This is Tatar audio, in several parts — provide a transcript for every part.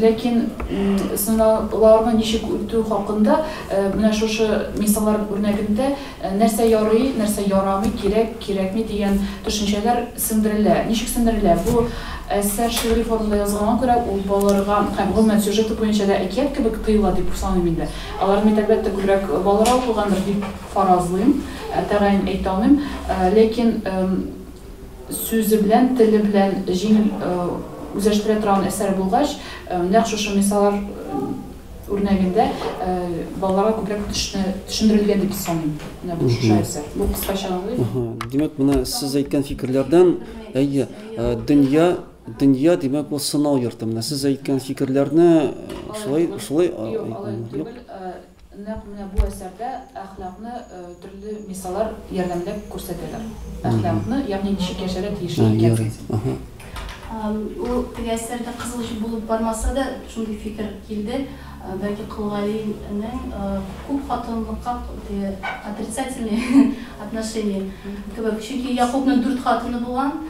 Ләкин сынауларны ничек үтү хакында менә шушы мисаллар үрнәгендә нәрсә ярый, нәрсә ярамый, кирәк, кирәкми дигән төшенчәләр сеңдерелә. Ничек сеңдерелә? Бу әсәр шигъри формада язылганга күрә, ул балаларга һәм гомумән сюжеты буенча да әкият кебек тоела дип саныйм инде. Алар бит, әлбәттә, күбрәк балаларга укылгандыр дип фаразлыйм, тәгаен әйтә алмыйм. Ләкин. сүзе белән, теле белән җиңел үзләштерә торган әсәр булгач, нәкъ шушы мисаллар үрнәгендә балаларга күбрәк төшендерелгән дип саныйм. Менә бу шушы әсәр. Бу кыскача аңлыйм. Димәк, менә сез әйткән фикерләрдән, әйе, дөнья дөнья димәк ул сынау йорты менә сез әйткән фикерләрне шулай шулай юк Нәкъ менә бу әсәрдә әхлакны төрле мисалар ярдәмендә күрсәтәләр. Әхлакны, ягъни ничек яшәргә тиеш икәнсез. Ул теге әсәрдә кызыл җеп булып бармаса да, шундый фикер килде. Бәлки Кол Галинең күп хатынлыкка отрицательный отношение кебек. Чөнки Якубның дүрт хатыны булган,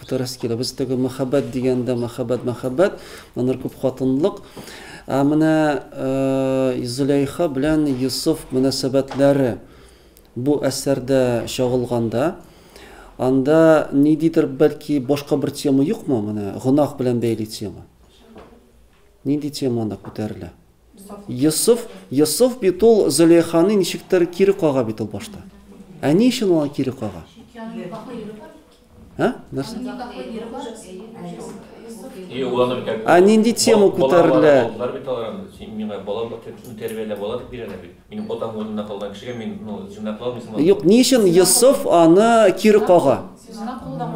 Дөрес килә. Без теге мәхәббәт дигәндә мәхәббәт, мәхәббәт, аннары күпхатынлылык. Ә менә Зөләйха белән Йосыф мөнәсәбәтләре бу әсәрдә чагылганда, анда ниндидер бәлки башка бер тема юкмы менә гөнаһ белән бәйле тема? Нинди тема анда күтәрелә? Йосыф, Йосыф бит ул Зөләйханы ничектер кире кага бит ул башта. Ә ни өчен ул кире кага? Ә? Нәрсә? Ә нинди тема күтәрелә? Балалар бит алар, миңа балалар тәрбияләп алар бирәләр бит. Минем атам урынында калган кешегә мин, ну, җыйнаклау мисал алам. Юк, ни өчен Йосыф аны кире кага?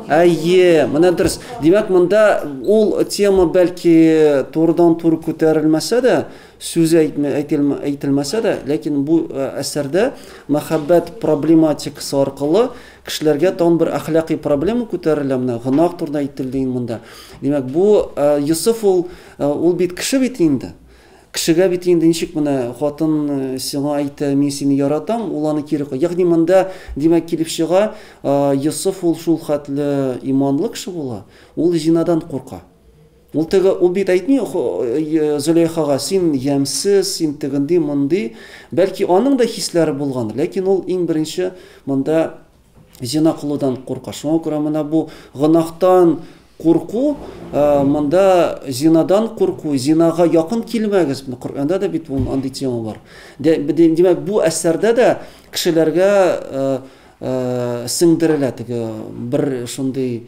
Әйе, менә дөрес. Димәк, монда ул тема бәлки турыдан-туры күтәрелмәсә дә, сүз әйтелмәсә дә, ләкин бу э, әсәрдә мәхәббәт проблематикасы аркылы кешеләргә тагын бер әхлакый проблема күтәрелә менә гөнаһ турында әйтелде инде монда. Димәк, бу э, Йосыф ул э, ул бит кеше бит инде. Кешегә бит инде ничек менә хатын сиңа әйтә, мин сине яратам, ул аны кире куя. Ягъни монда, димәк, килеп чыга, Йосыф ул шул хәтле иманлы кеше була, ул зинадан курка. Ул теге, ул бит әйтми Зөләйхага, син ямьсез, син тегенди, мондый. Бәлки аның да хисләре булгандыр, ләкин ул иң беренче монда Зина кылудан курка. Шуңа күрә менә бу гөнаһтан курку, монда зинадан курку, зинага якын килмәгез. Коръәндә дә бит бу андый тема бар. Димәк, бу әсәрдә дә кешеләргә сеңдерелә теге бер шундый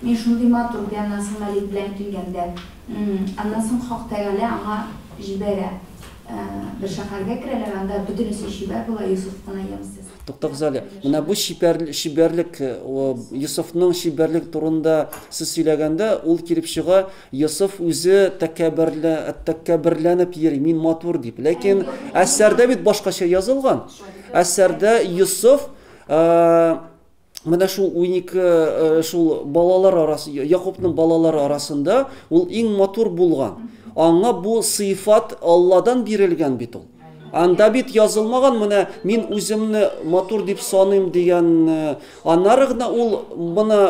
Мин шундый матур ди, аннан соң Малик белән килгәндә. М-м. Аннан соң Хак Тәгалә аңа җибәрә. Бер шәһәргә керәләр, анда бөтенесе чибәр була, Йосыф кына ямьсез. Туктагыз әле, менә бу чибәрлек, Йосыфның чибәрлеге турында сез сөйләгәндә, ул килеп чыга, Йосыф үзе тәкәбберләнеп йөри, мин матур дип. Ләкин әсәрдә бит башкача язылган. Әсәрдә Йосыф, менә шул унике э, шул балалар арасы якупның балалары арасында ул иң матур булган аңа бу сыйфат алладан бирелгән бит ул анда бит язылмаган менә мин үземне матур дип саныйм дигән э, аннары гына ул моны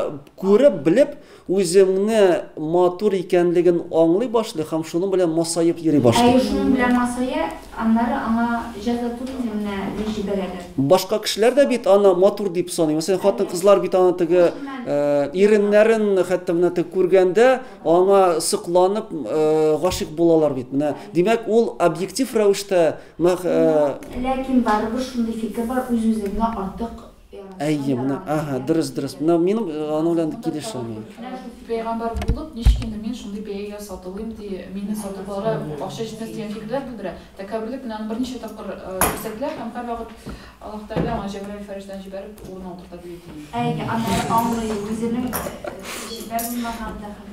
күреп белеп Үзеңне матур икәнлеген аңлый башлый һәм шуның белән масаеп йөри башлый. Әйе, шуның белән масая, аннары аңа җәза күпме генә ни җибәрәләр. Башка кешеләр дә бит аны матур дип саный. Мәсәлән, хатын-кызлар бит аны теге иреннәрен хәтта менә теге күргәндә аңа сокланып гашыйк булалар бит. Менә, димәк, ул объектив рәвештә Ләкин барыбер шундый фикер бар, үз-үзеңне артык Әйе, менә, аһа, дөрес, дөрес. Менә минем э, аның белән килешәм. мин. Менә шул пәйгамбәр булып, ничек инде мин шундый бәягә сатылыйм ди, мине сатып ала, акча җитмәс дигән фикерләр белдерә. Тәкәбберлек белән аны берничә тапкыр э, күрсәтелә һәм һәрвакыт Аллаһ Тәгалә аңа Җәбраил фәрештәне җибәреп, урынына утырта дип әйтелгән. Әйе, аны аңлый, үзенең э, җитә булмаган да хәл.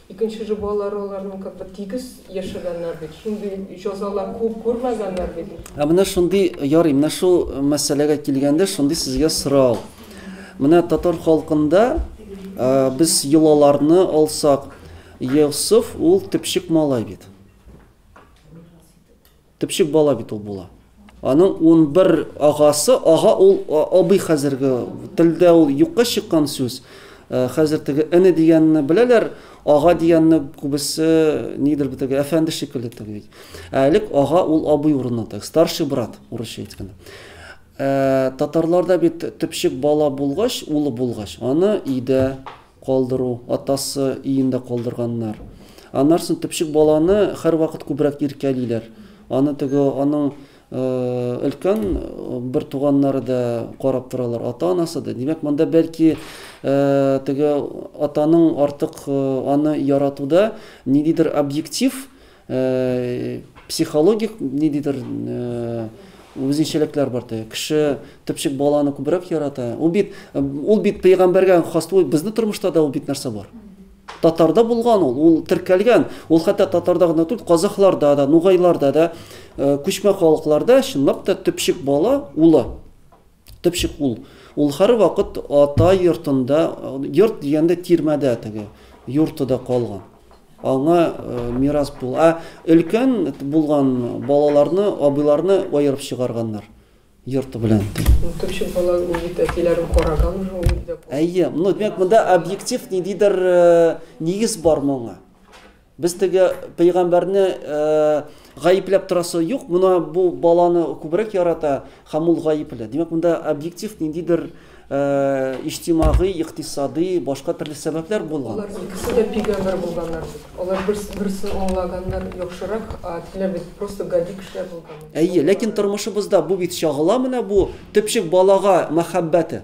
Икенче жобалары аларның как бы тигез яшәгәннәр бит, шундый җазалар күп күрмәгәннәр бит. Ә менә шундый ярый, менә шул мәсьәләгә килгәндә шундый сезгә сорау. Менә татар халкында без йолаларны алсак, Йосыф ул төпчек малай бит. Төпчек бала бит ул була. Аның унбер агасы, ага ул абый хәзерге телдә ул юкка чыккан сүз. Хәзер теге эне дигәнне беләләр, ага дигәнне күбесе нидер бит әфәнде шикелле теге бит. Ә элек ага ул абый урынына теге старший брат урысча әйткәндә. Татарларда бит төпчек бала булгач, улы булгач, аны өйдә калдыру, атасы өендә калдырганнар. Аннарсын төпчек баланы хәрвакыт күбрәк иркәлиләр. Аны теге аның өлкән бер туганнары да карап торалар, ата-анасы да. Димәк, монда бәлки теге атаның артык аны яратуда ниндидер объектив Психологик ниндидер үзенчәлекләр бар ди. Кеше төпчек баланы күбрәк ярата. Ул бит ул бит пәйгамбәргә хас ул безнең тормышта да ул бит нәрсә бар. Татарда булган ул, ул теркәлгән. Ул хәтта татарда гына түгел, казахларда да, нугайларда да, күчмә халыкларда чынлап та төпчек бала улы. Төпчек ул. Ул һәрвакыт ата йортында, йорт дигәндә тирмәдә теге юртыда калган. Аңа мирас бул. Ә өлкән булган балаларны, абыйларны аерып чыгарганнар йорты белән. Төпчек бала ул бит әтиләрен караган уже ул. Әйе, ну димәк монда объектив ниндидер нигез бар моңа. Без теге пәйгамбәрне гаепләп торасы юк, мына бу баланы күбрәк ярата һәм ул гаепле. Димәк, монда объектив ниндидер иҗтимагый, икътисади, башка төрле сәбәпләр булган. Алар икесе дә пәйгамбәр булганнар. Алар берсе аңлаганнар яхшырак, диләр бит, просто гади кешеләр булган. Әйе, ләкин тормышыбызда бу бит чагыла, менә бу төпчек балага мәхәббәте.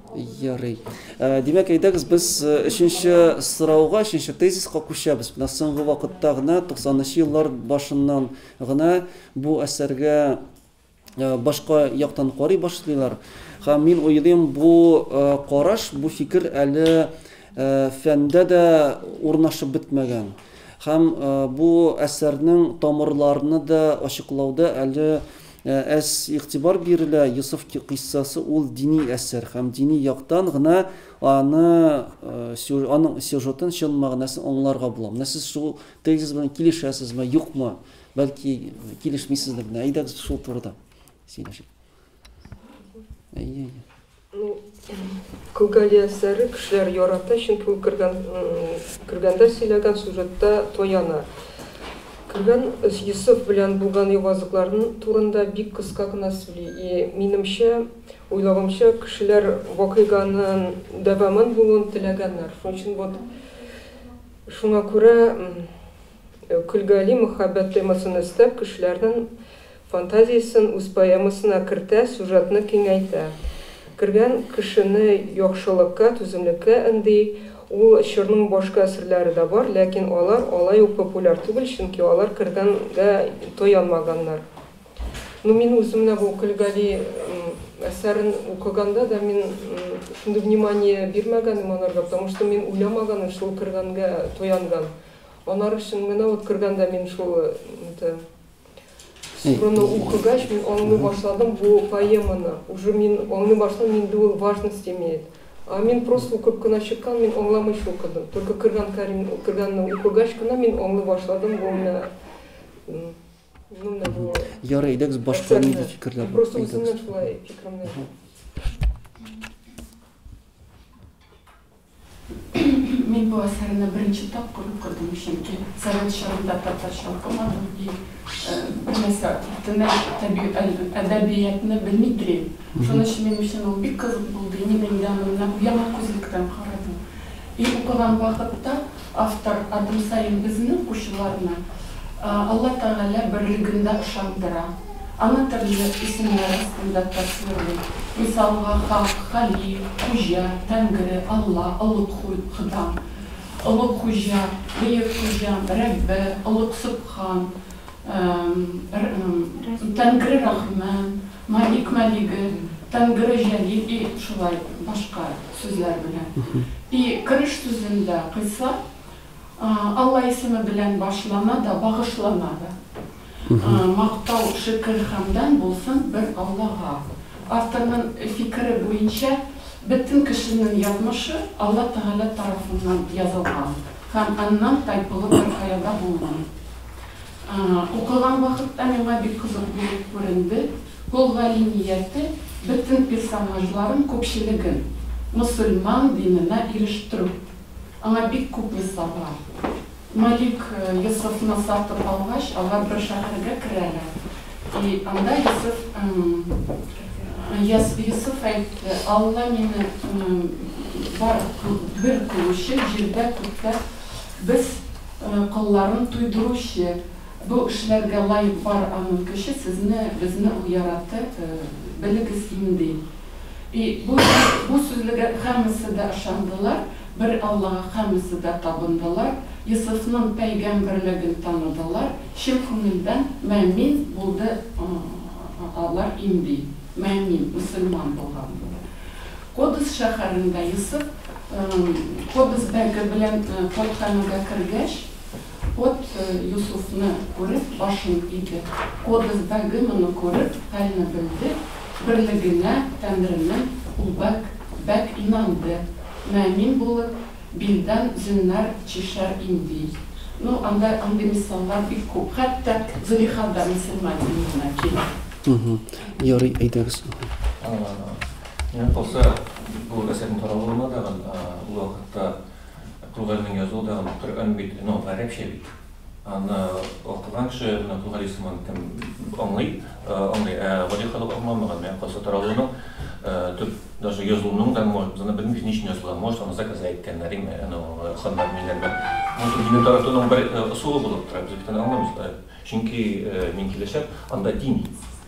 Ярый. Э, димәк, әйдәгез без э, өченче сорауга, өченче тезиска күчәбез. Менә соңгы вакытта гына 90-нчы еллар башыннан гына бу әсәргә э, башка яктан карый башлыйлар. Һәм мин уйлыйм, бу караш, бу фикер әле фәндә дә урнашып бетмәгән. Һәм бу әсәрнең тамырларны да ачыклауда әле Ә әз игътибар бирелә, Йосыф кыйссасы ул дини әсәр һәм дини яктан гына аны, аның сюжетын, чын мәгънәсен аңларга була. Менә сез шул тезис белән килешәсезме, юкмы? Бәлки, килешмисездер. Менә әйдәгез шул турыда сөйләшик. Әйе, әйе. Ну, Күгали әсәре кешеләр ярата, чөнки ул кергән, кергәндә сөйләгән сюжетта тояна. Кергән Йосыф белән булган явазыкларын турында бик кыска гына сөйли. И, минемчә, уйлавымча, кешеләр вакыйганын дәвамын булуын теләгәннәр. Шуның өчен вот, шуңа күрә, Көлгали мөхәббәт темасын өстәп, кешеләрнен фантазиясен үз поэмасына кертә, сюжетны киңәйтә. Кергән кешене яхшылыкка, түземлеккә өнди. Ул чорның башка әсрләре дә бар, ләкин алар алай ук популяр түгел, чөнки алар кергәнгә таянмаганнар. Ну, мин үзем менә бу Көлгали әсәрен укыганда да мин шундый внимание бирмәгәнем аларга, потому что мин уйламаганмын шул кергәнгә таянган. Анар өчен менә вот кергәндә мин шул это Супруны укыгач, мин аңлый башладым бу поэманы. Уже мин аңлый башладым, инде ул важность имеет. А мин просто укып кына чыккан, мин аңламыйча укыдым. Только кергән Карим, кергәнне укыгач кына мин аңлый башладым бу менә ну менә бу. Ярый, әйдәгез башка нинди фикерләр? Просто үземнән шулай фикеремне. Мин бу әсәрне беренче тапкыр укыдым, чөнки совет чорында татарча укымадым и бер нәрсә төмән әдәбиятны белми телим. Шуның өчен минем өчен ул бик кызык булды и мин инде аны менә бу яңа күзлектән карадым. И укыган вакытта Автор адым саен безне, укучыларны, Алла Тәгалә берлегендә ышандыра. Аны төрле исемнәр астында тасвирлый. Мисалга, Хак, Халиф, Хуҗа, Тәңре, Алла, Олуг Хода, Олуг Хуҗа, Бөек Хуҗам, Рәббе, Олуг Сөбхан, Тәңре Рахман, Малик Малиге, Тангыры Җәлил и шулай башка сүзләр белән. И кереш сүзендә кыйса Алла исеме белән башлана да, багышлана да. Мактау, шөкер, хәмдан булсын бер Аллага. Авторның фикере буенча, бөтен кешенең язмышы Алла Тәгалә тарафыннан язылган һәм аннан тайпылу беркая да булмый. Укыган вакытта миңа бик кызык булып күренде, ул галимияте бөтен персонажларын, күпчелеген, мөселман диненә ирештерү. Аңа бик күп мисал бар. Малик Йосыфны сатып алгач, алар бер шәһәргә керәләр, и анда Йосыф Йосыф әйтте, Алла мине бар бер кылучы, җирдә күктә без Колларын туйдыручы бу эшләргә лаек бар аның көче сезне безне ул яраты белегез инди и бу бу сүзлегә һәммәсе дә ышандылар бер Аллага һәммәсе дә табындылар Йосыфның пәйгәмберлеген таныдылар чын күңелдән мәэмин булды алар инди мәэмин мөселман булган Кодс шәһәрендә Йосыф Кодс бәге белән кодханәгә кергәч, код Йосыфны күреп, башын иде. Кодс бәге моны күреп, хәлне белде, берлегенә, Тәңренең ул бәг, бәг инанды, мөэмин булып, билдән зөннәр чишәр инди. Ну, анда андый мисаллар бик күп. Хәтта Зөлихада мөселман диюенә килә. Ярый, әйдәгез. Минем калса, бу әсәрнең таралуына да, ул вакытта Кругалинең язуы да, Коръән бит, ну, гарәпчә бит. Аны укыган кеше, менә Кругалин сыман кем аңлый, аңлый, ә гади халык аңламаган. Минем калса, таралуының төп, даже язуының да, может, без аны белмибез, ни өчен язылган, может, аны заказга әйткәннәр, яме, ну, ханнар, милләрдән. Может, динне таратуның бер ысулы булып тора, без бит аны аңламыйбыз. Чөнки, мин киләчәм, анда дин.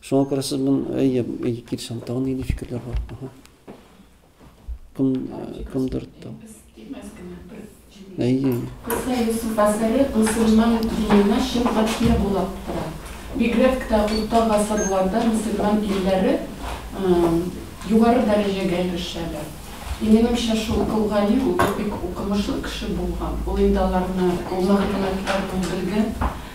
Шуңа күрә сез бун әйе, әйе килешәм. Тагын нинди фикерләр бар? Аһа. Кем кемдер тау. Әйе. Кыска Юсуф әсәре мусульман диненә чын катия булып тора. Бигрәк тә урта гасырларда мусульман илләре югары дәрәҗәгә ирешәләр. И минемчә шул Кол Гали ул бик укымышлы кеше булган. Ул инде аларны, ул мәгълүматларны ул белгән.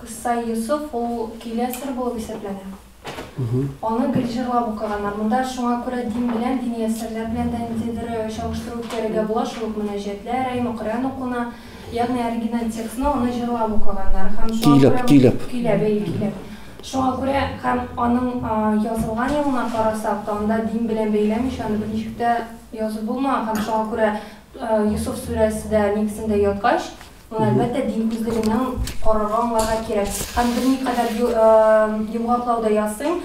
Кыссай Йосыф ул килә сер булып исәпләнә. Аны гел җырлап укыганнар. Монда шуңа күрә дин белән, дини әсәрләр белән дә ниндидер чагыштыру үткәрергә була, шул ук мөнәҗәтләр, әйме, Коръән укуына, ягъни оригиналь текстны аны җырлап укыганнар һәм шуңа күрә Көйләп, көйләп. Көйләп, әйе, көйләп. Шуңа күрә һәм аның язылган елына карасак та, анда дин белән бәйләмичә аны берничек тә язып булмаган һәм шуңа күрә Йосыф сүрәсе дә нигезендә яткач, Ул, әлбәттә, дин үзлегенең корыры аңларга кирәк. Һәм берникадәр йомгаклау да ясыйм.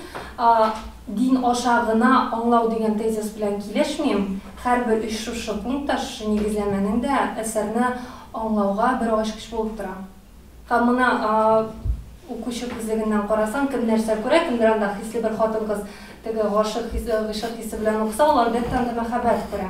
Дин аша гына аңлау дигән тезис белән килешмим. Һәрбер өч шушы пункт та, шушы нигезләмәнең дә әсәрне аңлауга бер ачкыч булып тора. Һәм моны укучы күзлегеннән карасаң, кем нәрсә күрә, кемдер анда хисле бер хатын-кыз теге гашыйк хисе, гыйшык хисе белән укыса, ул, әлбәттә, анда мәхәббәт күрә.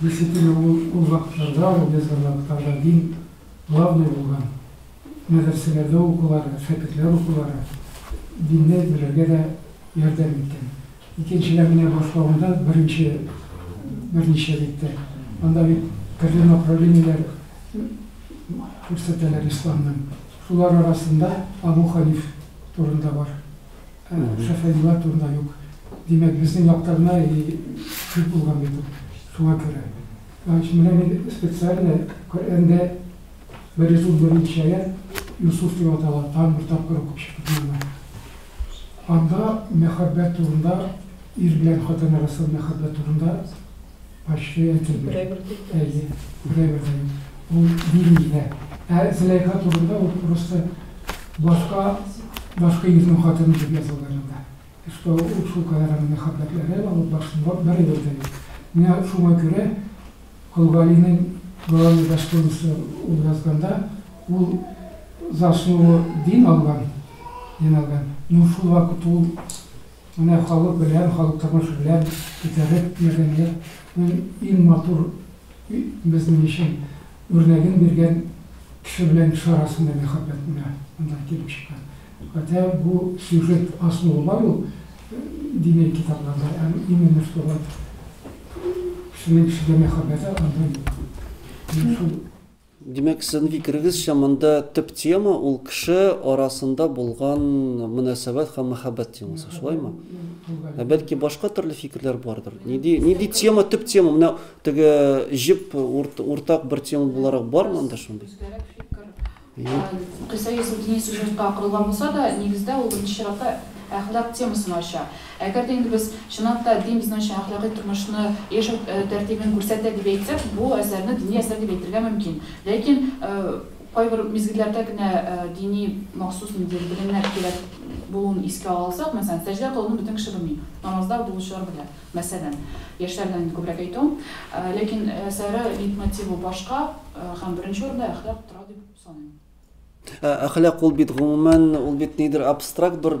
Действительно ул ул вакытларда ул язган вакытларда дин главный булган мәдрәсәләрдә укулары шәкертләр укулары динне белергә дә ярдәм иткән икенчедән менә башлавында беренче берничә дип тә анда бит төрле направлениеләр күрсәтәләр исламның шулар арасында абу ханиф турында бар Шәфәгыйләр турында юк. Димәк, безнең якта гына и күп булган бит ул. Шуңа күрә. Значит, менә мин специально Коръәндә берүзем беренче аять Юсуф дип атала, тагын бер тапкыр укып чыктым аны. Анда мәхәббәт турында, ир белән хатын арасында мәхәббәт турында. Почти әйтелде. Берәй бер типтә. Әйе, берәй бер дә юк. Ул бирми дә. Ә Зөләйха турында ул просто башка, башка ирнең хатыны дип язылган анда. И что ул шулкадәр аны мәхәббәтләгән, ул башында берәй бер дә юк. Менә шуңа күрә Колгалинең Главный достоинство ул язганда ул за основу дин алган, дин алган, но шул вакыт ул Менә халык белән, халык тормышы белән күтәреп, мәдәниятнең иң матур безнең өчен үрнәген биргән кеше белән кеше арасында мәхәббәт менә монда килеп чыккан. Хотя бу сюжет основа бар ул дини китапларда, ә именно что вот кешенең кешегә мәхәббәте анда юк. Менә шул Димәк, сезнең фикерегезчә, монда төп тема ул кеше арасында булган мөнәсәбәт һәм мәхәббәт темасы, шулаймы? Ә бәлки башка төрле фикерләр бардыр? Нинди нинди тема төп тема? Менә теге җеп уртак бер тема буларак бармы анда шундый? Кыйса Йосыф дини сюжетка корылган булса да, нигездә ул беренче чиратта әхлак темасын ача. Әгәр дә инде без, чынлап та, дин безнең өчен әхлакый тормышны, яшәү тәртибен күрсәтә дип әйтсәк, бу әсәрне дини әсәр дип әйтергә мөмкин. Ләкин кайбер мизгелләрдә генә дини махсус ниндидер белемнәр кирәк булуын искә ала алсак, мәсәлән, сәҗдә кылуны бөтен кеше белми, намазда булучылар белә, мәсәлән. Яшьләрдән инде күбрәк әйтүем. Ләкин әсәре лейтмотивы башка һәм беренче урында әхлак тора дип саныйм. Ә әхлак ул бит гомумән ул бит нидер абстракт бер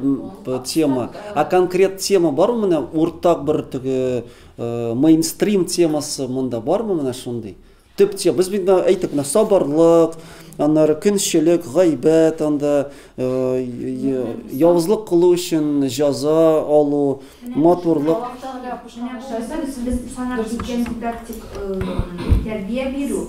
тема. Ә конкрет тема бармы менә уртак бер теге э, мейнстрим темасы монда бармы менә шундый? Төп тема. Без бит әйтеп менә сабырлык, аннары көнчелек, гайбәт, анда э, явызлык кылу өчен җаза алу, матурлык. Без санап киткән дидактик э, тәрбия бирү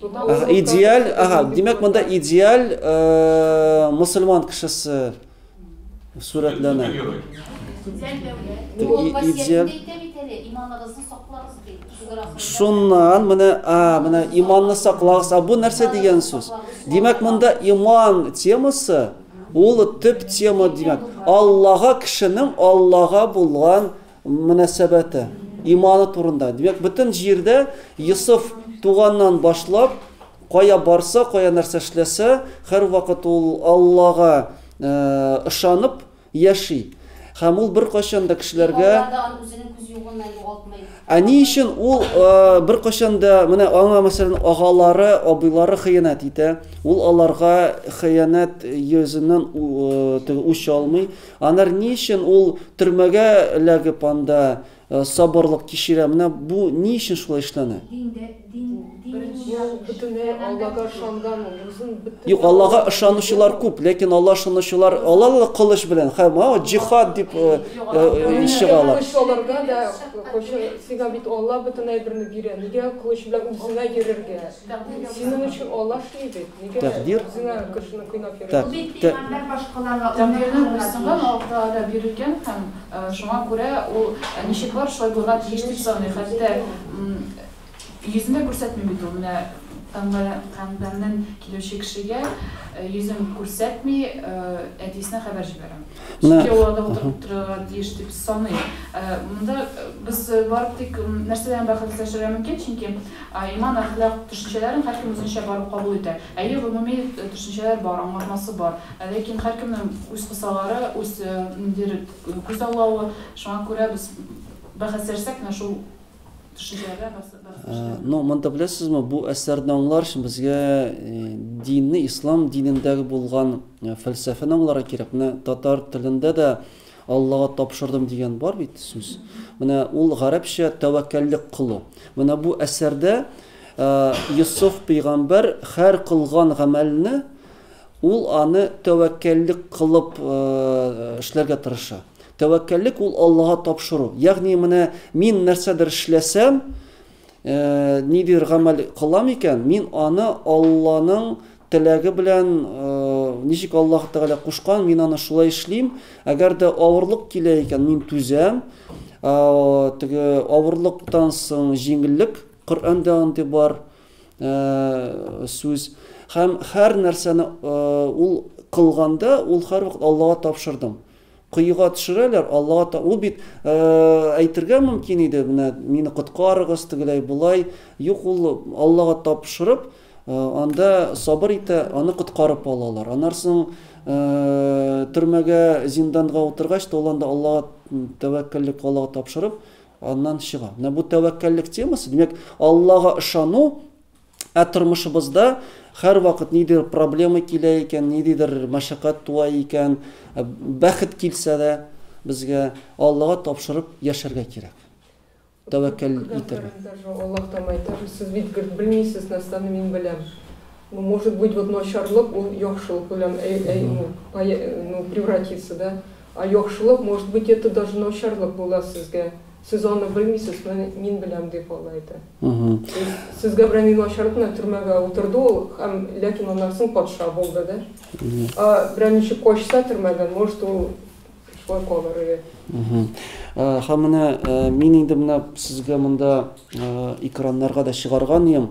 Ага, идеаль, ага, димәк монда идеаль э, мусульман кешесе сурәтләнә. Идеаль. Шуннан менә, а, менә иманны саклагыз. А бу нәрсә дигән сүз? Димәк монда иман темасы ул төп тема димәк. Аллага кешенең Аллага булган мөнәсәбәте, иманы турында. Димәк, бөтен җирдә Йосыф туганнан башлап, кая барса, кая нәрсә эшләсә, һәрвакыт ул Аллага ышанып яши. Һәм ул беркайчан да кешеләргә Ә ни өчен ул беркайчан да менә аңа мәсәлән агалары, абыйлары хыянәт итә, ул аларга хыянәт йөзеннән үч алмый, Анар ни өчен ул төрмәгә эләгеп анда сабырлык кичерә? Менә бу ни өчен шулай эшләнә? Юк, Аллага ышанучылар күп, ләкин Аллага ышанучылар алар да кылыч белән, һәм ау җихад дип чыгалар. Аларга да кылыч, сиңа бит Алла бөтен әйберне бирә, нигә кылыч белән үзеңә йөрергә? Синең өчен Аллаһ эшли бит. Нигә Тәкъдир. үзеңә кешене кыйнап йөрисең? Тәк- Бу бит тә- пәйгамбәр башкаларга үрнәк Тәкъдирнең булырга берсеннән тиеш. Аллаһ Тәгалә бирелгән һәм э, шуңа күрә ул э, ничек бар, шулай булырга тиеш дип саный. Хәтта м, йөзен дә күрсәтми бит ул. Менә пәйгамбәр, пәйгамбәрнен килүче кешегә э, йөзен күрсәтми э, әтисенә хәбәр җибәрә. Менә яуларда утырып торырга тиеш дип саныйм. Монда без барып тик нәрсәләрне бәхәсләшергә мөмкин, чөнки иман, әхлак төшенчәләрен һәркем үзенчә барып кабул итә. Әйе, гомуми төшенчәләр бар, аңлатмасы бар, ләкин һәркемнең үз кысалары, үз ниндидер күзаллавы, шуңа күрә без бәхәсләшсәк, менә шул Ну, монда беләсезме, бу әсәрне аңлар өчен безгә динне, ислам динендәге булган фәлсәфәне аңларга кирәк. Менә татар телендә дә Аллага тапшырдым дигән бар бит сүз. Менә ул гарәпчә тәвәккәллек кылу. Менә бу әсәрдә Йосыф пәйгамбәр хәр кылган гамәлне ул аны тәвәккәллек кылып эшләргә тырыша. Тәвәккәллек ул Аллага тапшыру. Ягъни менә мин нәрсәдер эшләсәм, нидер гамәл кылам икән, мин аны Алланың теләге белән, ничек Аллаһ Тәгалә кушкан, мин аны шулай эшлим. Әгәр дә авырлык килә икән, мин түзәм. Теге авырлыктан соң җиңеллек, Коръәндә андый бар сүз. Һәм һәр нәрсәне ул кылганда, ул һәрвакыт Аллага тапшырдым. Коега төшерәләр, Аллага та, ул бит, әйтергә мөмкин иде, менә мине коткарыгыз, тегеләй, болай. Юк, ул Аллага тапшырып, анда сабыр итә, аны коткарып алалар. Аннан соң төрмәгә, зинданга утыргач та, ул анда Аллага тәвәккәллек, Аллага тапшырып, аннан чыга. Менә бу тәвәккәллек темасы, димәк, Аллага ышану, Ә тормышыбызда һәрвакыт нидер проблема килә икән, ниндидер мәшәкать туа икән, бәхет килсә дә, безгә Аллага тапшырып яшәргә кирәк. Тәвәккәл итәргә. Аллаһ тәмайта, сез бит гел белмисез нәрсәне мин беләм. Ну, может быть, вот начарлык ул яхшылык белән әй әй ну, ну, превратится, да? Ә яхшылык, может быть, это даже начарлык була сезгә. Сез аны белмисез, менә мин беләм, дип алай да. То есть, сезгә берәр ни начарлык белән төрмәгә утырды ул, һәм, ләкин аннан соң патша булды, да? Ә берәр ничек качса төрмәдән, может, ул шулай калыр иде. Һәм менә мин инде менә сезгә монда экраннарга да чыгарган идем.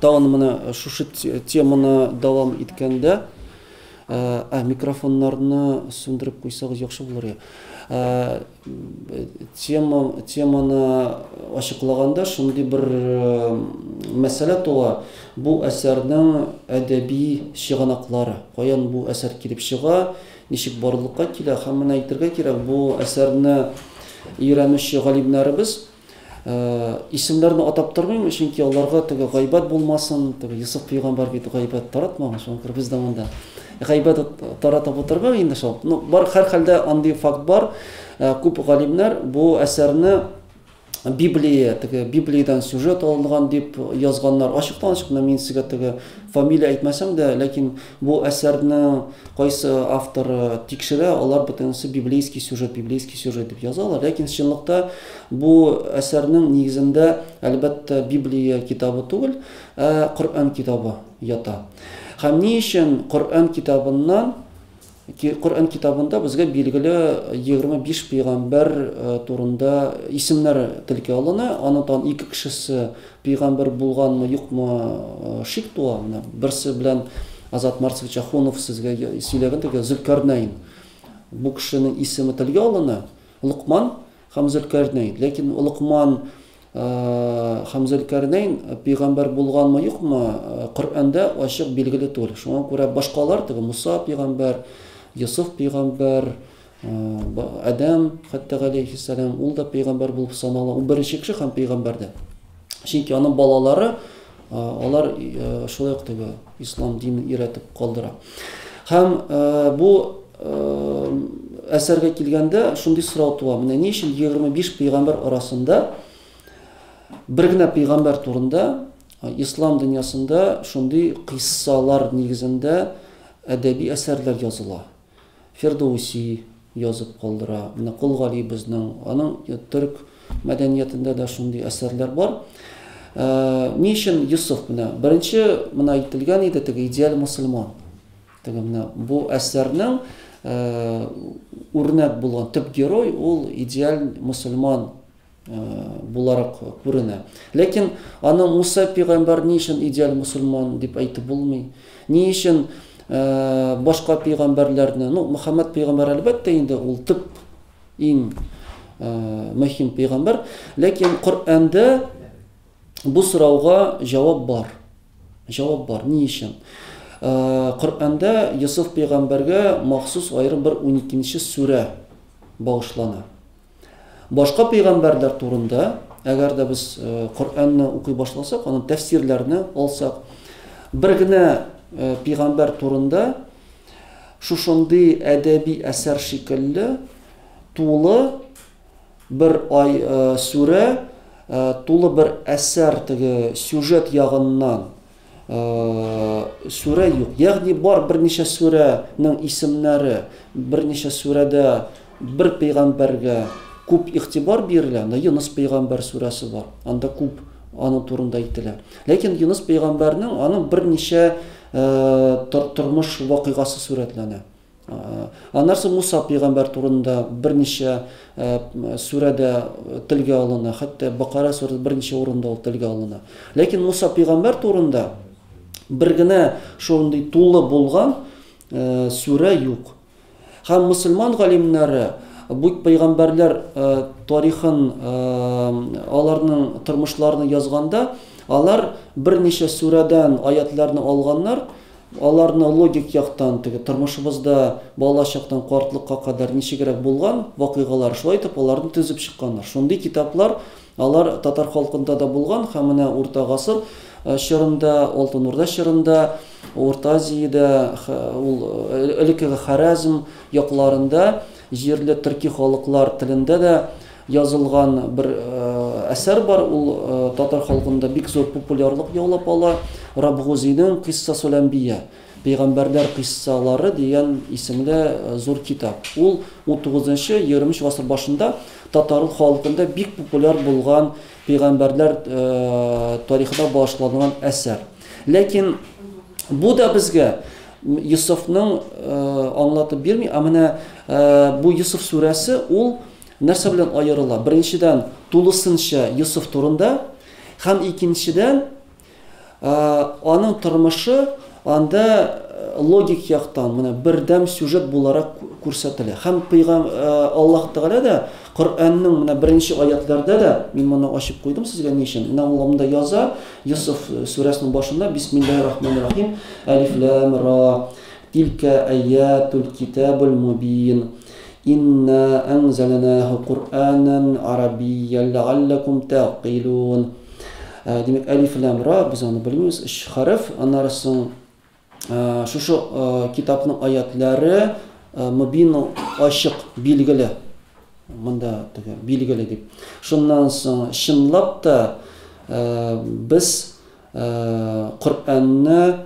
Тагын менә шушы теманы дәвам иткәндә, Ә микрофоннарны сүндереп куйсагыз яхшы булыр иде. Тема, теманы ачыклаганда шундый бер мәсьәлә туа. Бу әсәрнең әдәби чыганаклары, каян бу әсәр килеп чыга, ничек барлыкка килә һәм менә әйтергә кирәк, бу әсәрне өйрәнүче галимнәребез Исемнәрне атап тормыйм, чөнки аларга теге гайбәт булмасын, теге Йосыф пәйгамбәр бит гайбәт таратмаган, шуңа күрә без заманда гайбәт таратып утырмау инде шул. Ну, бар һәрхәлдә андый факт бар. Э, күп галимнәр бу әсәрне Библия, теге Библиядән сюжет алынган дип язганнар. Ачыктан ачык, мин сезгә теге фамилия әйтмәсәм дә, ләкин Бу әсәрне кайсы автор тикшерә, алар бөтенесе библейский сюжет, библейский сюжет дип язалар. Ләкин чынлыкта бу әсәрнең нигезендә, әлбәттә, Библия китабы түгел, ә Коръән китабы ята. Һәм ни өчен Коръән китабыннан Коръән китабында безгә билгеле 25 пәйгамбәр турында исемнәр телгә алына, анытан ике кешесе Пигамбер булганмы, юкмы, шик туа. Менә берсе белән Азат Марсович Ахунов сезгә сөйләгән диге Зөлкарнәйн. Бу кешенең исеме телгә алына. Лукман һәм Зөлкарнәйн. Ләкин Лукман һәм Зөлкарнәйн пигамбер булганмы, юкмы, Коръәндә ачык билгеле түгел. Шуңа күрә башкалар диге Муса пигамбер, Йосыф пигамбер, Адәм, хәтта галәйһиссәлам, ул да пәйгамбәр булып санала. Ул беренче кеше һәм пәйгамбәр дә. Чөнки аның балалары алар шулай ук теге ислам динен өйрәтеп калдыра. Һәм бу әсәргә килгәндә шундый сорау туа. Менә ни өчен 25 пәйгамбәр арасында бер генә пәйгамбәр турында ислам дөньясында шундый кыйссалар нигезендә әдәби әсәрләр языла? Фирдоуси язып калдыра. Менә Кол Галибезның, аның төрек мәдәниятендә дә шундый әсәрләр бар. Ни өчен Йосыф менә? Беренче мына әйтелгән иде теге идеаль мусульман. Теге менә бу әсәрнең урнәк булган төп герой ул идеаль мусульман буларак күренә. Ләкин аны Муса пигамбар ни өчен идеаль мусульман дип әйтеп булмый? Ни өчен башка пигамбарларны, ну, Мөхәммәд пигамбар әлбәттә инде ул төп иң мөһим пигамбар, ләкин Коръәндә бу сорауга җавап бар. Җавап бар. Ни өчен? Коръәндә Йосыф пигамбарга махсус аерым бер 12-нче сүрә багышлана. Башка пәйгамбәрләр турында, әгәр дә без Коръәнне укый башласак, аның тәфсирләрне алсак, бер генә пәйгамбәр турында шушындый әдәби әсәр шикелле тулы бер ай сүрә, тулы бер әсәр теге сюжет ягыннан Сүрә юк. Ягъни бар берничә сүрәнең исемнәре, берничә сүрәдә бер пәйгамбәргә күп игътибар бирелә. Анда Йоныс пәйгамбәр сүрәсе бар. Анда күп аның турында әйтелә. Ләкин Йоныс пәйгамбәрнең аның берничә тормыш вакыйгасы сүрәтләнә. Аннары соң Муса пәйгамбәр турында берничә сүрәдә телгә алына, хәтта Бакара сүрәсе берничә урында ул телгә алына. Ләкин Муса пәйгамбәр турында бер генә шундый тулы булган сүрә юк. Һәм мусульман галимнәре бу пәйгамбәрләр тарихын, аларның тормышларын язганда, алар берничә сүрәдән аятларны алганнар Аларны логик яктан, теге тормышыбызда балачактан картлыкка кадәр ничегрәк булган вакыйгалар, шулай итеп аларны төзеп чыкканнар. Шундый китаплар, алар татар халкында да булган һәм менә Урта гасыр чорында, Алтын Урда чорында, Урта Азиядә, ул элеккеге Харәзм якларында җирле төрки халыклар телендә дә Язылган бер әсәр бар, ул татар халкында бик зур популярлык яулап ала, Рабгузинең Кыйссасуләнбия, Пәйгамбәрләр кыйссалары, дигән исемле зур китап. Ул унтугызынчы, егерменче гасыр башында татар халкында бик популяр булган пәйгамбәрләр тарихына багышланган әсәр. Ләкин бу да безгә Йосыфның аңлатып бирми, ә менә бу Йосыф сүрәсе, ул Нәрсә белән аерыла? Беренчедән, тулысынча Йосыф турында һәм икенчедән, аның тормышы анда логик яктан менә бердәм сюжет буларак күрсәтелә. Һәм пыйгам Аллаһ Тәгалә дә Коръәннең менә беренче аятларда да мин моны ачып куйдым сезгә ни өчен? Менә ул монда яза, Йосыф сүрәсенең башында Бисмиллаһир рахманир рахим, Әлиф лам ра, Тилкә аятул китабул мубин. Инна әнзәләнәһү Коръәнән гарәбийән ләгалләкум тәгъкилүн. Димәк, әлиф ләм ра, без аны белмибез, өч хәреф. Аннары соң шушы китапның аятләре мөбин ачык, билгеле. Монда теге билгеле дип. Шуннан соң чынлап та без Коръәнне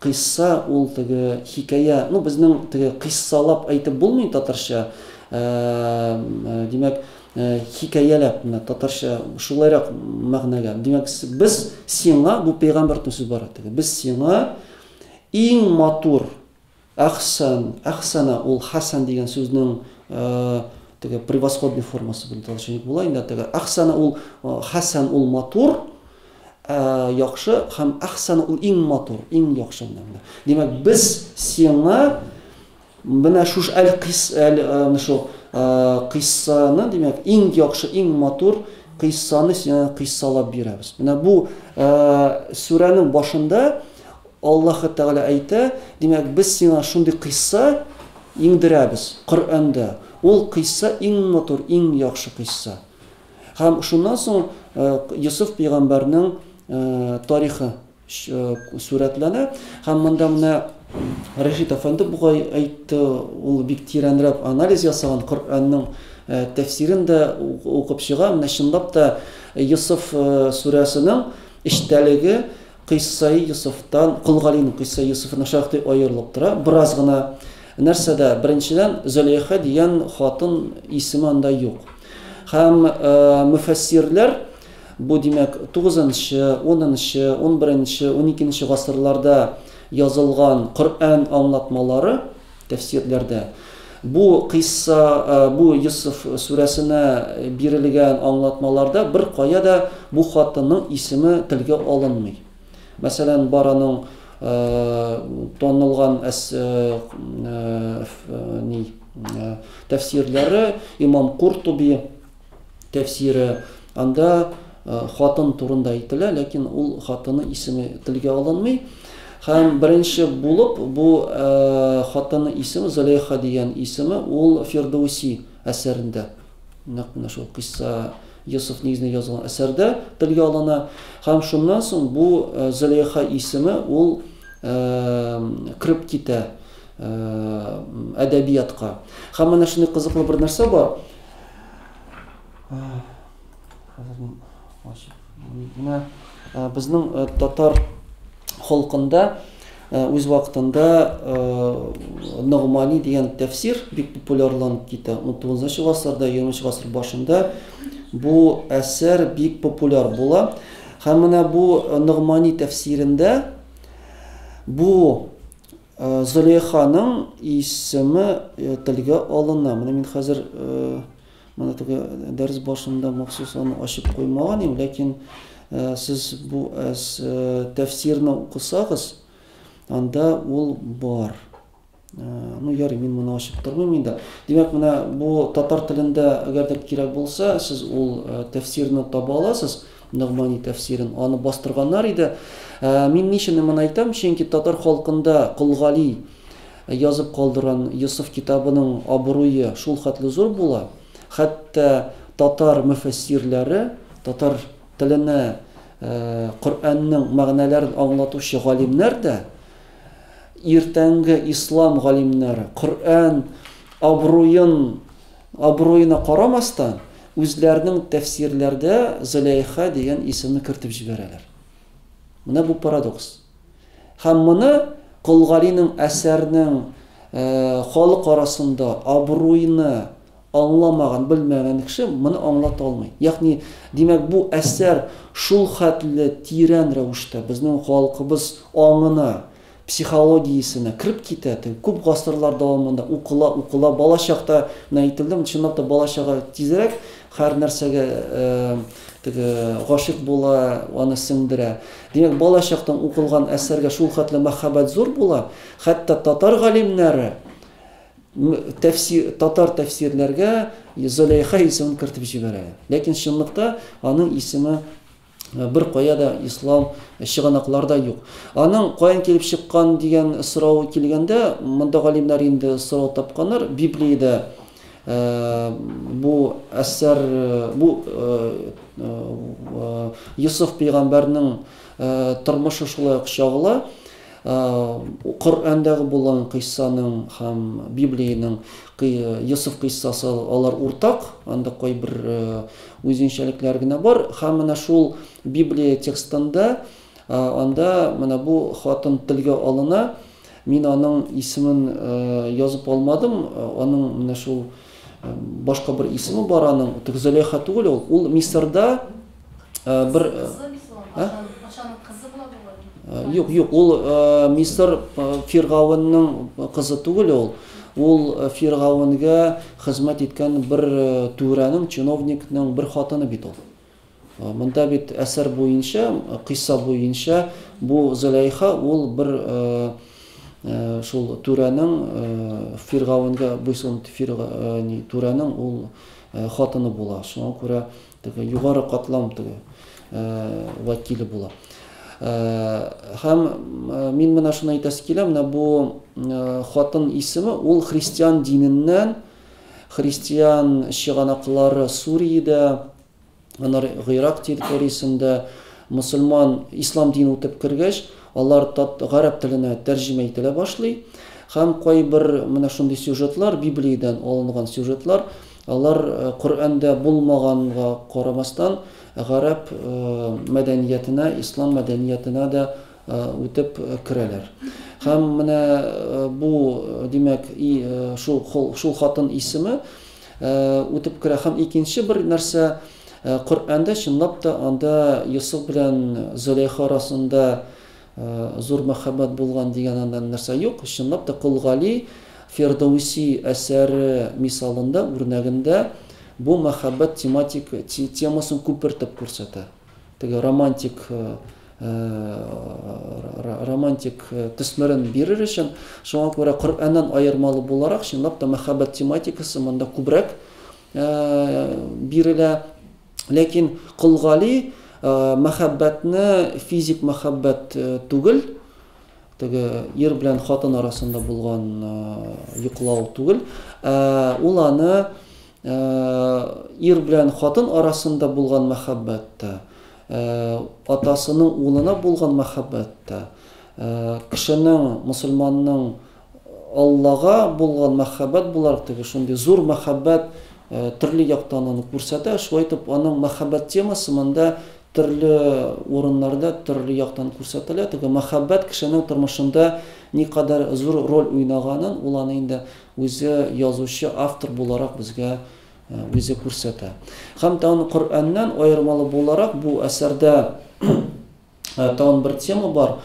Кыйсса ул теге хикәя, ну безнең теге кыйссалап әйтеп булмый татарча, димәк, хикәяләп, менә татарча шулайрак мәгънәгә. Димәк, без сиңа, бу пәйгамбәр сүз бара теге, без сиңа иң матур әхсән, әхсәнә ул хәсән дигән сүзнең теге превосходный формасы белән талчык була инде теге әхсәнә ул хәсән ул матур Ә яхшы һәм әхсән ул иң матур, иң яхшы менә. Димәк, без сиңа менә шуш әл кис әл шу кыйссаны, димәк, иң яхшы, иң матур кыйссаны сиңа кыйссалап бирәбез. Менә бу сүрәнең башында Аллаһ Тәгалә әйтә, димәк, без сиңа шундый кыйсса иңдерәбез Коръәндә. Ул кыйсса иң матур, иң яхшы кыйсса. Һәм шуннан соң Йосыф пәйгамбәрнең тарихы сурәтләнә. Һәм монда менә Рәшит әфәнде бугай әйтте, ул бик тирәнрәк анализ ясаган, Коръәннең тәфсирен дә укып чыга. Менә чынлап та Йосыф сүрәсенең эчтәлеге Кыйссаи Йосыфтан, Кол Галинең Кыйссаи Йосыфы начар ук аерылып тора, бераз гына. Нәрсәдә? Беренчедән, Зөләйха дигән хатын исеме анда юк. Һәм мөфәссирләр бу, димәк, тугызынчы, унынчы, унберенче, уникенче гасырларда язылган Коръән аңлатмалары, Тәфсирләрдә бу кыйсса, бу Йосыф сүрәсенә бирелгән аңлатмаларда беркая да бу хатынның исеме телгә алынмый. Мәсәлән, бар аның танылган әс ни тәфсирләре Имам Куртуби тәфсире, анда хатын турында әйтелә, ләкин ул хатыны исеме телгә алынмый. Һәм беренче булып бу хатыны исеме Зөләйха дигән исеме ул Фирдауси әсәрендә. Нәкъ менә шул кыйсса Йосыф нигезендә язылган әсәрдә телгә алына. Һәм шуннан соң бу Зөләйха исеме ул кирип китә әдәбиятка. Һәм менә шундый кызыклы бер нәрсә бар. Менә безнең татар халкында үз вакытында Ногмани дигән тәфсир бик популярланып китә. 19 гасырда, 20 гасыр башында бу әсәр бик популяр була. Һәм менә бу Ногмани тәфсирендә бу Зөләйханың исеме телгә алына. Менә мин хәзер менә теге дәрес башында махсус аны ачып куймаган идем, ләкин сез бу тәфсирне укысагыз, анда ул бар. Ну, ярый, мин моны ачып тормыйм инде. Димәк, менә бу татар телендә, әгәр дә кирәк булса, сез ул тәфсирне таба аласыз. Ногмани тәфсирен аны бастырганнар иде. Ә, мин ничене моны әйтәм, чөнки татар халкында Кол Гали язып калдырган Йосыф китабының абруе шул хәтле зур була, хәтта татар мөфәссирләре, татар теленә ә, Коръәннең мәгънәләрен аңлатучы галимнәр дә, иртәнге ислам галимнәре Коръән абруен Абруена карамастан, үзләренең тәфсирләрдә Зөләйха дигән исемне кертеп җибәрәләр. Менә бу парадокс. Һәм моны Кол Галинең әсәрнең халык арасында абруйны аңламаган, белмәгән кеше моны аңлата алмый. Ягъни, димәк, бу әсәр шулхәтле тирән рәвештә безнең халкыбыз аңына, психологиясенә кереп китә, теге күп гасырлар дәвамында укыла, укыла, бала чакта менә әйтелде, чынлап та бала чага тизрәк һәр нәрсәгә теге гашыйк була, аны сеңдерә. Димәк, бала чактан укылган әсәргә шул хәтле мәхәббәт зур була, хәтта татар галимнәре тәфсир, татар тәфсирләргә Зөләйха исемен кертеп җибәрә. Ләкин чынлыкта аның исеме Бер кая да ислам чыганаклар да юк. Аның каян килеп чыккан дигән сорау килгәндә, монда галимнәр инде сорау тапканнар. Библиядә э, бу әсәр э, бу Йосыф э, пәйгамбәрнең тормышы шулай ук чагыла. Коръәндәге булган кыйссаның һәм Библиянең Йосыф кыйссасы алар уртак, анда кайбер үзенчәлекләр генә бар. Һәм менә шул Библия текстында анда менә бу хатын телгә алына. Мин аның исемен язып алмадым. Аның менә шул башка бер исеме бар аның. Тик Зөләйха түгел ул. Ул Мисырда бер патшаның кызы була бу. Юк, юк, ул Мисыр фиргавынның кызы түгел ул. Ул фиргавынгә хезмәт иткән бер түрәнең, чиновникның бер хатыны бит ул. Монда бит әсәр буенча, кыйса буенча бу Зөләйха ул бер шул түрәнең фиргавынгә буйсынып фирга, ни, түрәнең ул хатыны була. Шуңа күрә Теге югары катлам теге вәкиле була. Һәм мин менә шуны әйтәсе килә, менә бу хатын исеме ул христиан диненнән, христиан чыганаклары Суриядә, анар Гыйрак территориясендә мусульман ислам динен үтеп кергәч, алар тат гарәп теленә тәрҗемә ителә башлый. Һәм кайбер менә шундый сюжетлар, Библиядән алынган сюжетлар, Алар Коръәндә булмаганга карамастан, гарәп мәдәниятенә, ислам мәдәниятенә дә үтеп керәләр. Һәм менә бу, димәк, и, шу, хол, шул хатын исеме үтеп керә. Һәм икенче бер нәрсә, Коръәндә чынлап та анда Йосыф белән Зөләйха арасында Зур мәхәббәт булган дигән анда нәрсә юк, чынлап та Кол Гали Фирдоуси әсәре мисалында, үрнәгендә бу мәхәббәт тематик темасын күпертеп күрсәтә. Теге романтик романтик төсмерен бирер өчен, шуңа күрә Коръәннән аермалы буларак, чынлап та мәхәббәт тематикасы монда күбрәк бирелә. Ләкин Кол Гали мәхәббәтне физик мәхәббәт түгел, теге ир белән хатын арасында булган йоклау түгел, ә ул аны ир белән хатын арасында булган мәхәббәттә, атасының улына булган мәхәббәттә, кешенең, мусульманның Аллага булган мәхәббәт буларак теге шундый зур мәхәббәт төрле яктан аны күрсәтә. Шулай итеп, аның мәхәббәт темасы монда төрле урыннарда, төрле яктан күрсәтелә. Теге мәхәббәт кешенең тормышында никадәр зур роль уйнаганын ул аны инде үзе язучы, автор буларак безгә үзе күрсәтә. Һәм тагын Коръәннән аермалы буларак бу әсәрдә Тагын бер тема бар,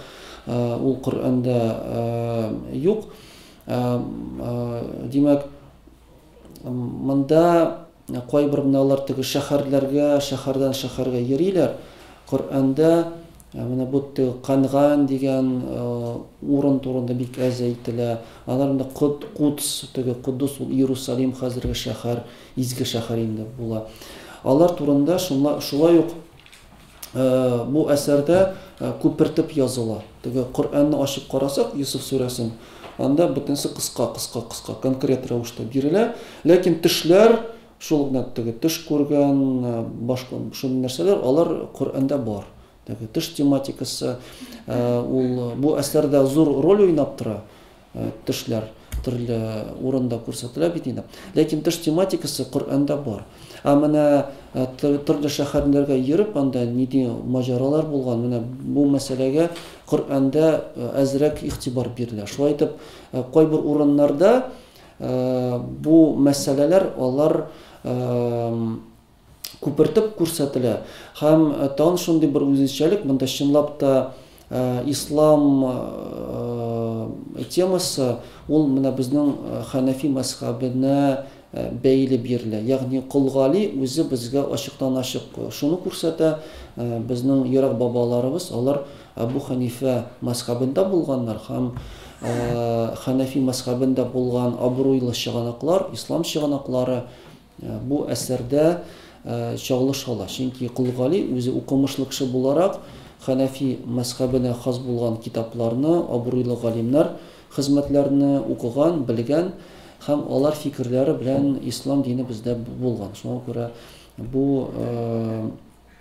ул Коръәндә юк. Димәк, монда кайбер менә алар теге шәһәрләргә, шәһәрдән шәһәргә йөриләр. Коръәндә менә бу Канган дигән урын турында бик әз әйтелә. Алар инде Кудс, теге Кудус ул Иерусалим хәзерге шәһәр, изге шәһәр инде була. Алар турында шулай ук бу әсәрдә күпертеп языла. Теге Коръәнне ачып карасак, Йосыф сүрәсен, анда бөтенесе кыска, кыска, кыска, конкрет рәвештә бирелә. Ләкин төшләр, шул гына теге төш күргән, башка шундый нәрсәләр, алар Коръәндә бар. Теге төш тематикасы, ул бу әсәрдә зур роль уйнап тора. Э, төшләр төрле урында күрсәтелә бит инде ләкин төш тематикасы коръәндә бар ә менә э, төрле шәһәрләргә йөреп анда нинди маҗаралар булган менә бу мәсьәләгә коръәндә э, әзрәк игътибар бирелә шулай итеп кайбер урыннарда бу мәсьәләләр алар күпертеп күрсәтелә. Һәм тагын шундый бер үзенчәлек, монда чынлап та ислам темасы ул менә безнең хәнәфи мәзхәбенә бәйле бирелә. Ягъни Кол Гали үзе безгә ачыктан-ачык шуны күрсәтә, безнең ерак бабаларыбыз, алар Әбу Хәнифә мәзхәбендә булганнар һәм хәнәфи мәзхәбендә булган абруйлы чыганаклар, ислам чыганаклары Бу әсәрдә чагылышалар, чөнки Кол Гали үзе укымышлы кеше буларак, хәнәфи мәзхәбенә хас булган китапларны, абруйлы галимнәр хезмәтләрне укыган, белгән һәм алар фикерләре белән ислам дине бездә булган. Шуңа күрә бу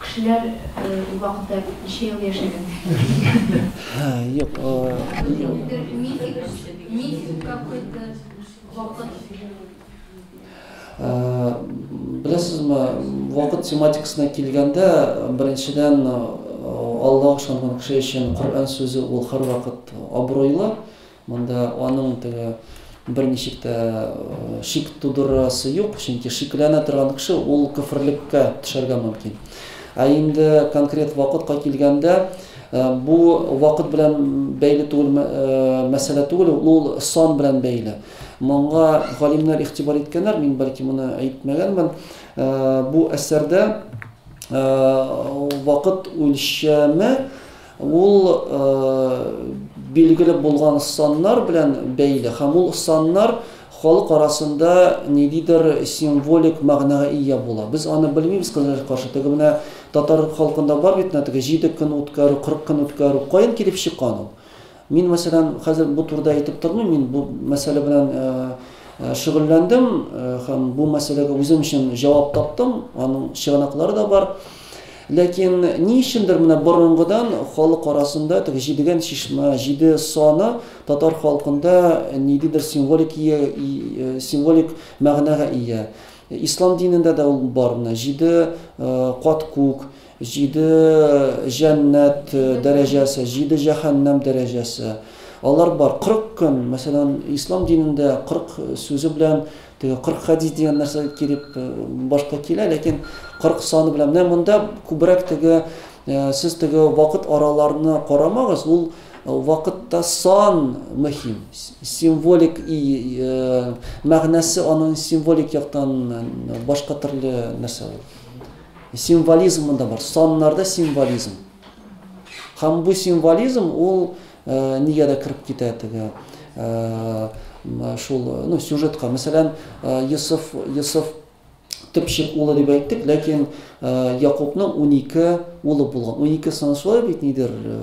Кешеләр ул вакытта ничә ел яшәгәннәр? Юк, Беләсезме, вакыт тематикасына килгәндә, беренчедән, Аллага ышанган кеше өчен Коръән сүзе ул һәрвакыт абруйлы. Монда аның теге берничек тә шик тудырасы юк, чөнки шикләнә торган кеше ул көферлеккә төшәргә мөмкин. Ә инде конкрет вакытка килгәндә, бу вакыт белән бәйле түгел мәсьәлә түгел, ул сон белән бәйле. Моңа галимнәр игътибар иткәннәр, мин бәлки моны әйтмәгәнмен. Бу әсәрдә вакыт үлчәме Ул билгеле булган саннар белән бәйле һәм ул саннар халык арасында ниндидер символик мәгънәгә ия була. Без аны белмибез, кызларга каршы. Теге менә татар халкында бар бит менә теге җиде көн үткәрү, кырык көн үткәрү. Каян килеп чыккан ул? Мин, мәсәлән, хәзер бу турыда әйтеп тормыйм, мин бу мәсьәлә белән шөгыльләндем һәм бу мәсьәләгә үзем өчен җавап таптым, аның чыганаклары да бар. Ләкин ни өчендер менә борынгыдан халык арасында теге җидегән чишмә, җиде саны татар халкында ниндидер символик символик мәгънәгә ия. Ислам динендә дә ул бар, менә җиде кат күк, Җиде җәннәт дәрәҗәсе, җиде җәһәннәм дәрәҗәсе. Алар бар. Кырык көн, мәсәлән, ислам динендә кырык сүзе белән теге кырык хәдис дигән нәрсә килеп башка килә, ләкин кырык саны белән. Менә монда күбрәк теге сез теге вакыт араларны карамагыз, ул вакытта сан мөһим. Символик мәгънәсе аның символик яктан башка төрле нәрсә ул. Символизм монда бар, саннарда символизм. Һәм бу символизм ул э, нигә дә кереп китә теге э, шул ну, сюжетка. Мәсәлән, э, Йосыф, Йосыф төпчек улы дип әйттек, ләкин э, Якубның 12 улы булган. 12 саны шулай бит нидер э,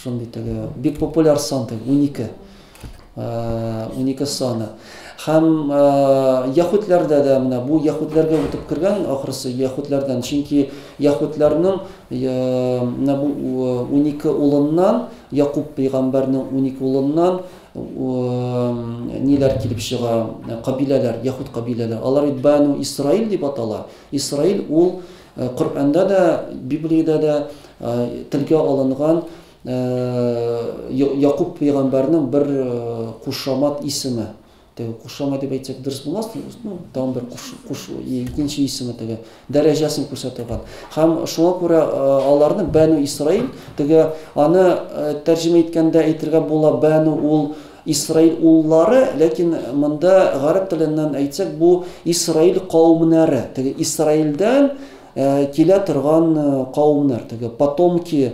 шундый теге бик популяр сан 12. унике саны. Һәм яхутләрдә дә менә бу яхутләргә үтеп кергән ахрысы яхутләрдән, чөнки яхутләрнең менә бу унике улыннан, Якуб пәйгамбәрнең унике улыннан ниләр килеп чыга, кабиләләр, яхут кабиләләр. Алар Ибану Исраил дип атала. Исраил ул Коръәндә дә, Библиядә дә телгә алынган Якуб пәйгамбәрнең бер кушамат исеме. Теге кушамат дип әйтсәк дөрес булмас, ну, тагын бер куш, куш икенче исеме теге дәрәҗәсен күрсәтә торган. Һәм шуңа күрә аларны Бәну Исраил, теге аны тәрҗемә иткәндә әйтергә була Бәну ул Исраил уллары, ләкин монда гарәп теленнән әйтсәк бу Исраил кавымнары. Теге Исраилдән килә торган кавымнар, теге потомки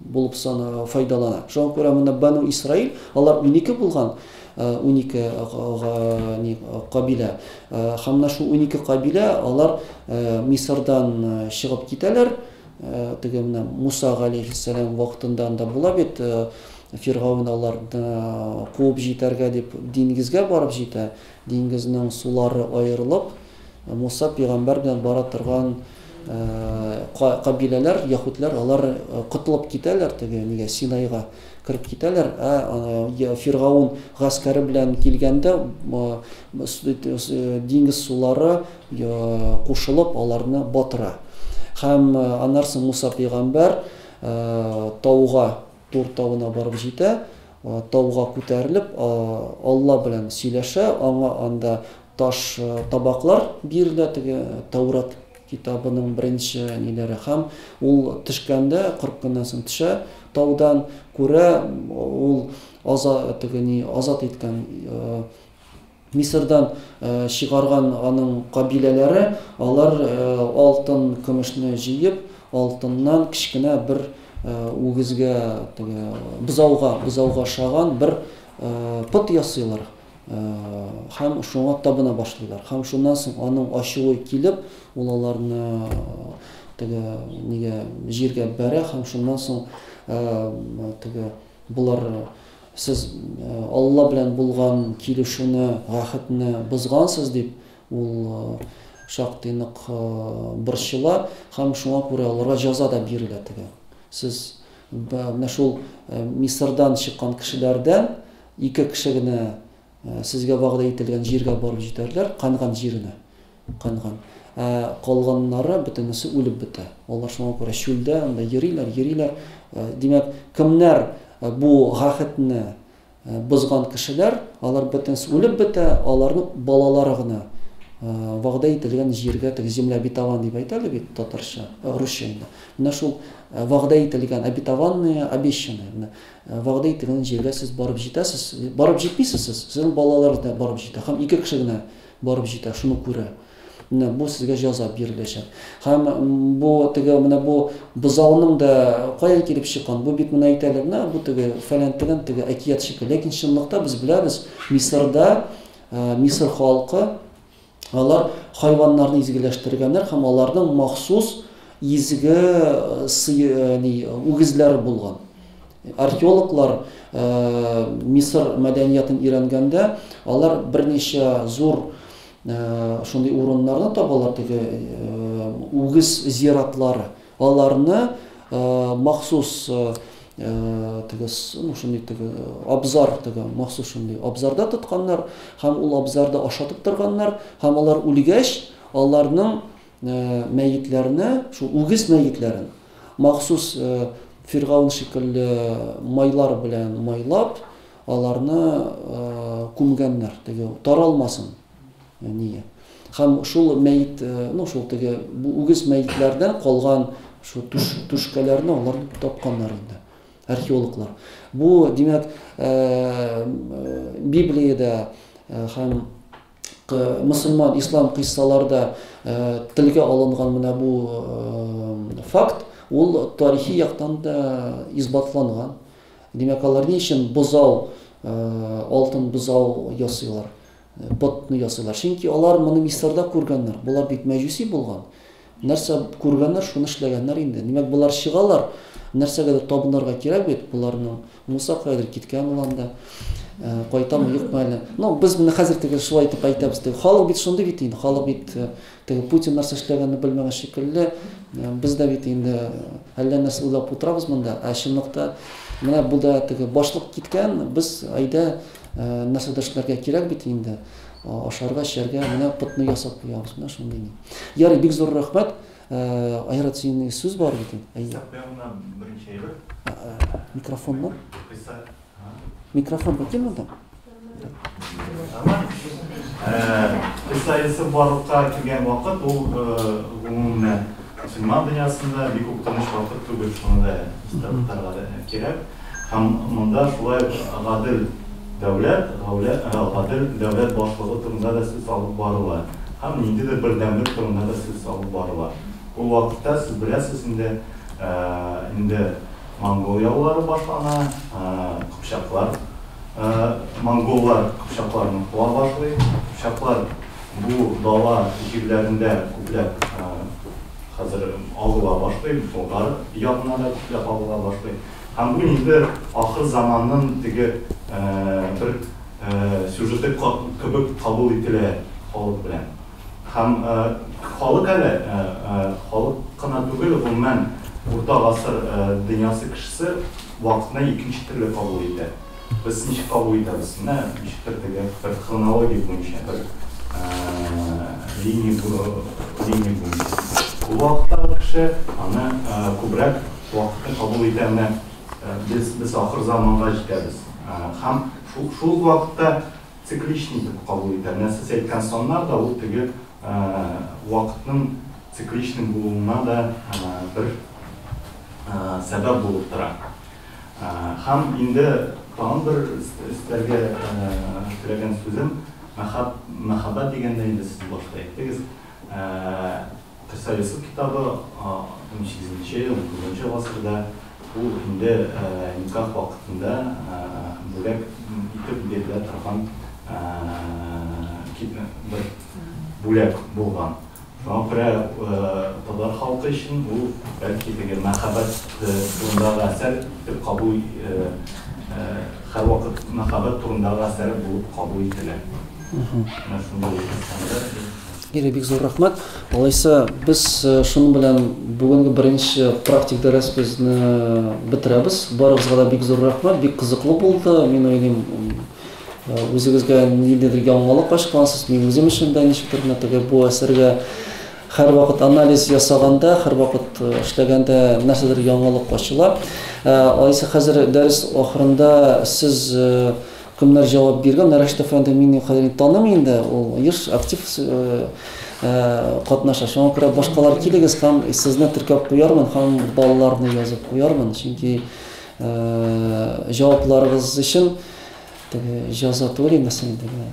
булып санала, файдалана. Шуңа күрә монда Бану Исраил, алар унике булган, унике кабилә. Һәм менә шул унике кабилә, алар Мисырдан чыгып китәләр, теге менә Муса галейхиссәлам вакытында анда була бит, Фиргавен аларны куып җитәргә дип диңгезгә барып җитә, диңгезнең сулары аерылып, Муса пигамбәр белән бара торган кабиләләр, яһүдләр, алар котылып китәләр, теге нигә, Синайга кереп китәләр, ә Фиргаун гаскәре белән килгәндә, диңгез сулары кушылып, аларны батыра. Һәм аннары Муса пигамбәр тауга Тур тавына барып җитә, тауга күтәрелеп, Алла белән сөйләшә, аңа анда таш табаклар бирелә, теге Тәүрат китабының беренче ниләре, һәм ул төшкәндә, кырык көннән соң төшә таудан, күрә, ул аза, теге ни, азат иткән Мисырдан чыгарган аның кабиләләре, алар алтын, көмешне җыеп, алтыннан кечкенә бер үгезгә, теге, бозауга, бозауга ошаган бер пот ясыйлар һәм шуңа табына башлыйлар. Һәм шуннан соң аның ачуы килеп, ул аларны теге нигә, җиргә бәрә һәм шуннан соң теге, болар Сез Алла белән булган килешүне, гәхетне бозгансыз, дип, ул шактый нык борчыла һәм шуңа күрә аларга җәза да бирелә теге. Сез менә шул Мисырдан чыккан кешеләрдән ике кеше генә Сезгә вәгъдә ителгән җиргә барып җитәрләр, Канган җиренә. Канган. Ә калганнары бөтенесе үлеп бетә. Алар шуңа күрә чүлдә анда йөриләр, йөриләр. Димәк, кемнәр бу гәхетне бозган кешеләр, алар бөтенесе үлеп бетә, аларның балалары гына вәгъдә ителгән җиргә, теге земля обетован дип әйтәләр бит татарча, русча инде. Менә шул вәгъдә ителгән обетованные, обещанные. Вәгъдә ителгән җиргә сез барып җитәсез, барып җитмисез сез, сезнең балаларыгыз да барып җитә һәм ике кеше генә барып җитә, шуны күрә. Менә бу сезгә җәза биреләчәк. Һәм бу теге менә бу бозауның да каян килеп чыккан? Бу бит менә әйтәләр, менә бу теге фәлән тегән теге әкият шикелле. Ләкин чынлыкта без беләбез, Мисырда Мисыр халкы Алар хайваннарны изгеләштергәннәр һәм аларның махсус изге үгезләре булган. Археологлар Мисыр мәдәниятын өйрәнгәндә, алар берничә зур шундый урыннарны табалар, теге үгез зиратлары. Аларны махсус теге ну шундый теге абзар теге махсус шундый абзарда тотканнар һәм ул абзарда ашатып торганнар һәм алар үлгәч аларның мәетләрне шул үгез мәетләрен махсус фиргаун шикелле майлар белән майлап аларны күмгәннәр теге таралмасын Әние. Һәм шул мәет, ну, шул теге үгез мәетләрдән калган шул түш, түшкәләрне алар тапканнар инде археологлар. Бу, димәк, Библиядә һәм мусульман, ислам кыйссаларда телгә алынган менә бу факт, ул тарихи яктан да исбатланган. Димәк, алар ни өчен бозау, алтын бозау ясыйлар? Ботны ясыйлар. Чөнки алар моны Мисырда күргәннәр. Болар бит мәҗүси булган. Нәрсә күргәннәр, шуны эшләгәннәр инде. Димәк, болар чыгалар, нәрсәгәдер табынырга кирәк бит боларның. Муса каядыр киткән ул анда. Э, кайтамы, юкмы әле. Ну, без моны хәзер теге шулай итеп әйтәбез. Теге халык бит шундый бит инде. Халык бит э, теге Путин нәрсә эшләгәнне белмәгән шикелле. Э, без дә бит инде әллә нәрсә уйлап утырабыз монда. Ә чынлыкта менә бу да теге башлык киткән, без әйдә Нәрсә дә эшләргә кирәк бит инде. Ашарга, эчәргә менә котны ясап куябыз. Менә шундый ни. Ярый, бик зур рәхмәт. Айрат, синең сүз бар бит инде. Әйе. Китап янына беренче әйбер. Микрофоннан. Микрофон бар килми монда? Кыса Йосыф барлыкка килгән вакыт ул гомумән Мөселман дөньясында бик үк тыныч вакыт түгел, шуны да истә тотарга кирәк. Һәм монда шулай ук гадел дәүләт, гадел дәүләт башлыгы турында да сүз алып барыла һәм ниндидер бердәмлек турында да сүз алып барыла. Ул вакытта, сез беләсез инде, инде монгол яулары башлана, кыпчаклар, монголлар кыпчакларны куа башлый, кыпчаклар, Бу дала җирләрендә күпләп хәзер агыла башлый, Болгар ягына да күпләп агыла башлый. Һәм бу инде ахыр заманның теге бер сюжеты кебек кабул ителә халык белән. Һәм халык әле, халык кына түгел, гомумән, урта гасыр дөньясы кешесе вакытны икенче төрле кабул итә. Без ничек кабул итәбез? Менә ничектер теге бер хронология буенча, бер линия буенча. Ул вакыттагы кеше аны күбрәк вакытны кабул итә. Менә без ахыр заманга җитәбез. Һәм шул ук вакытта цикличный итеп кабул итә. Менә сез әйткән саннар да ул теге вакытның цикличный булуына да бер сәбәп булып тора. Һәм инде тагын бер өстәргә теләгән сүзем, мәхәббәт дигәндә инде сез башта әйттегез, Гыйса Йосыф китабы 18 нче, 19 нчы гасырда, ул инде никах вакытында бүләк итеп бирелә торган бер бүләк булган. Мапрә татар халкы өчен бу, бәлки, теге мәхәббәт турындагы әсәр итеп кабул һәрвакыт мәхәббәт турындагы әсәр булып кабул ителә. Менә шундый әсәрләр. Гәрәй, бик зур рәхмәт. Алайса, без шуның белән бүгенге беренче практик дәресебезне бетерәбез. Барыгызга да бик зур рәхмәт, бик кызыклы булды, мин уйлыйм. Үзегезгә ниндидер яңалык ачкансыз, мин үзем өчен дә ничектер генә теге бу әсәргә һәрвакыт анализ ясаганда, һәрвакыт э, эшләгәндә нәрсәдер яңалык ачыла. Э, Алайса хәзер дәрес ахырында сез э, кемнәр җавап биргән? Рәшит әфәнде мин хәзер таным инде, ул еш актив катнаша. Шуңа күрә башкалар килегез һәм сезне теркәп куярмын һәм балаларны язып куярмын, чөнки Җавапларыгыз өчен теге җаза түгел инде син теге.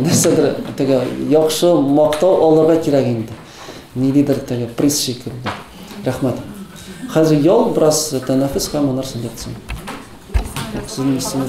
Нәрсәдер теге яхшы мактау алырга кирәк инде. Ниндидер теге приз шикелле. Рәхмәт. Хәзер ял бераз тәнәфес һәм аннары сәләтсен. Синең исемең